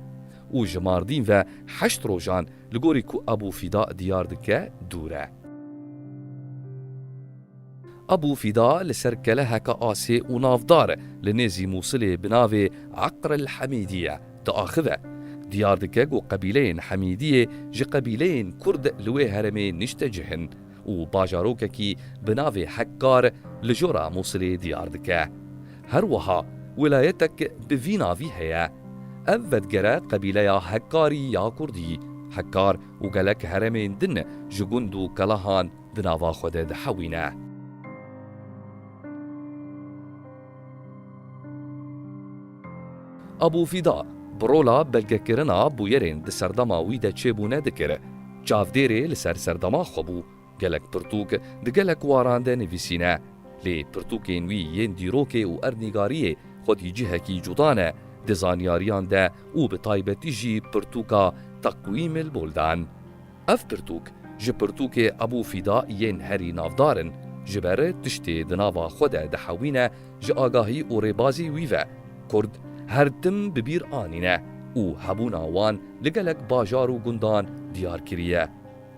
û ji Mardîn ve heşt rojan li gorî ku Ebû Fîda diyar dike dûr e. Ebû Fîda li ser keleheka asê û navdar li nêzî Mûsilê bi navê Eqr el Hemîdî ye, diaxive. Diyar dike ku qebîleyên Hemîdiyê ji qebîleyên Kurd li wê heremê nişte cih in û bajarokekî bi navê Hekkar li jora Mûsilê diyar dike. Her wiha welayetek bi vî navî heye. Ev vedigere qebîleya Hekkarî ya Kurdî. Hekkar û gelek heremên din ji gund û kelehan, Di nava xwe de dihewîne. Abû Fîda, bi rola belgekirina bûyerên di serdema wî de çêbûne dikir. Çavdêrê li ser serdema xwe bû. Gelek pirtûk di gelek waran de nivîsîne. Lê pirtûkên wî yên dîrokê û erdnîgariyê xwedî cihekî cuda ne di zanyariyan de û bi taybetî jî pirtûka Takwiymil Buldan. Ev pirtûk ji pirtûkê Ebû Fîda yên herî navdar in, ji ber tiştê di nava xwe de dihewîne ji agahî û rêbazî wî ve, Kurd her tim bi bîr anîne û hebûna wan li gelek bajar û gundan diyar kiriye.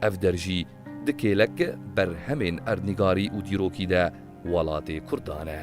Ev der jî di kêlek berhemên erdnîgarî û dîrokî de welatê Kurdan e.